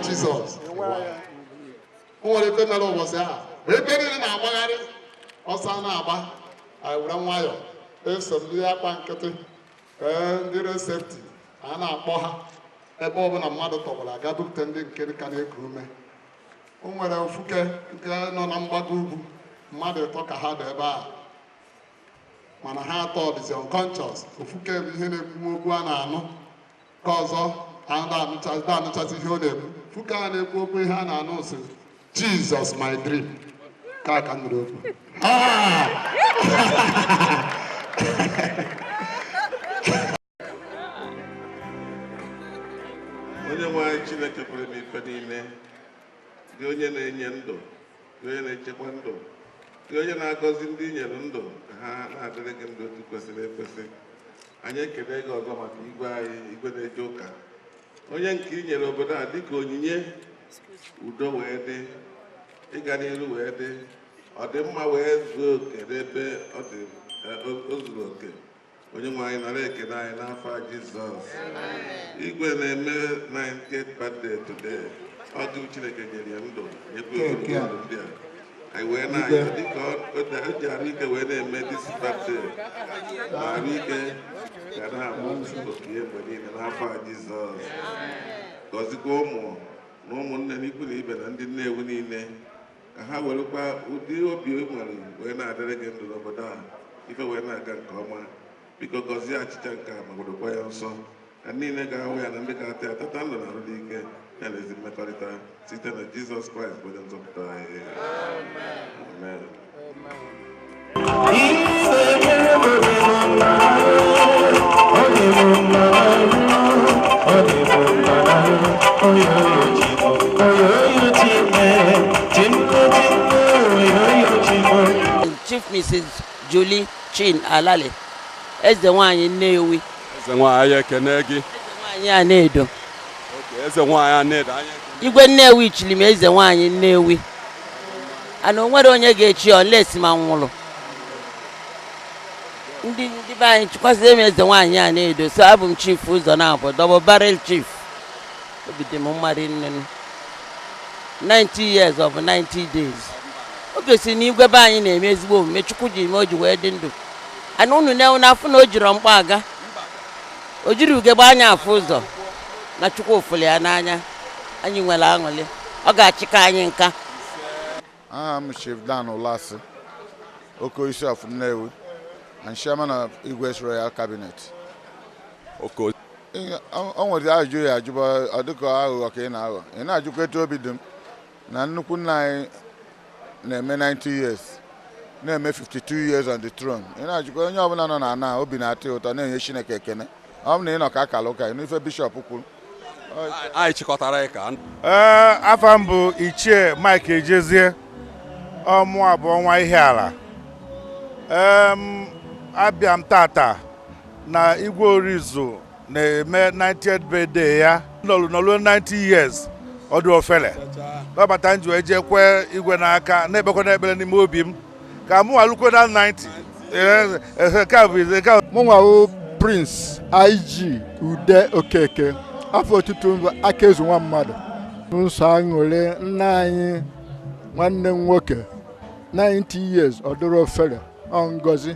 Jizọs o nwere ife mere ụbọchị ahụ ma ebe niile na-agbagharị ọsọ a na-agba anyị were nwayọọ eso ndị akwa nkịtị ee ndị road safety a na-akpọ ha ebe ọbụla mmadụ tọgbọrọ a gaa bupụta ndị nke ka na-eku ume o nwere ofuke nke nọ na mgbago ugwu mmadụ ịtọ ka ha dị ebe a mana ha atọ dịzi unconscious ofuke bụ ihe na-ekwu okwu a na-anụ ka ọzọ na-anụchazi ihe ọ na-ekwu ofuke a na-ekwu okwu ihe a na-anụ si jizọs my dream ka aka nụrụ okwu onye nwe anyị chineke pụrụ ime ife niile gị onye na-enye ndụ gị onye na-echekwa ndụ gị onye na-agọzi ndị i nyere ndụ ka ha na-adịrị gị ndụ otu kwesịrị ekwesị anyị ekele gị ọzọ maka igwe anyị igwe na-eje ụka onye nke i nyere obodo a dịka onyinye udo wee dị ịga n'iru wee dị ọdịmma wee zuo oke n'ebe ọ dị eh, o- o zuru oke onye nwe anyị nara ekele anyị n'afa jizọs igwe na-eme 98th birthday today ọ gị chineke nyere ya ndụ nyekwa ya ogologo ndụ ndị a anyị wee na-ayọ dịka o ji arụ ike wee na-eme this birthday na arụ ike ga na-abụ oke ya mgbe niile n'afa Jizọs gọzikwa ụmụ na ụmụnne na ikwu na ibe na ndị Nnewi niile ka ha werekwa ụdị obi e nwere wee na-adịrị gị ndụ n'obodo a ife wee na-aga nke ọma biko gọzie achịcha nke a ma gị dokwaa ya nsọ na niile ga-ahụ ya na ndị ga-ata ya tata ndụ na arụ dị ike ya na ezi mmekọrịta site na jizọs kraịst bụ onye nzọpụta anyị amen Chief Mrs. Julie Chin Alali, Eze Nwanyị Nnewi. Eze Nwanyị anyị ekene gị. Eze Nwanyị Anaedo. Eze Nwanyị Anaedo anyị ekene. Igwe Nnewi chiri m Eze Nwanyị Nnewi. And o nwerọ onye ga-echi ya unless ma m nwụrụ. Ndị ndị be anyị chikwasịrị m Eze Nwanyị Anaedo so abụ m chief ụzọ naabọ double barrel chief. obi dị m mma rinne nụ. 90 years ọ bụrọ 90 days o gosiri na igwe be anyị na-eme ezigbo omume chukwu ji mee o ji wee dị ndụ and unu nwa na-afụ na o jiro mkpa aga o jiro ugegbe anya afụ ụzọ na chukwu fụlụ ya n'anya anyị nwere aṅụrị ọ ga-achịka anyị nka Aha m Chief Dan Ụlasị, Okoisi of Nnewi and Chairman of Igwe's Royal Cabinet. Okay. O nwere ajụjụ ị ya-ajụba ọ dịka aghụghọ ka ị na-aghọ. Ị na-ajụkwa etu obi dị m na nnukwu nna anyị na-eme 90 years na-eme 52 years on the throne. Ị na-ajụkwa onye ọbụla nọ n'ana obi na-atọ ya ụtọ na-enye Chineke ekene. Ọ bụ na ị nọ ka a kara ụka ị nụ ife bishọp kwuru anyị chịkọtara ya ka ee afa m bụ ichie mike ejezie ọ mụa bụ ọnwa ihiala ee abịa m tata na igwe orizu na-eme 90th birthday ya nọlụ nọlụ 90 years ọ dịrọ ọfele kpata m ji wee je kwee igwe n'aka na-ekpekwanụ ekpere n'ime obi m ka mụwa lukwe na 90 mụnwa wụ prince ig ude okeke afa otutu m bụ aka ezu nwa mmadụ m so aṅụrị nna anyị nwanne m nwoke 90 years ọ dịrọ ofere ọ ngozi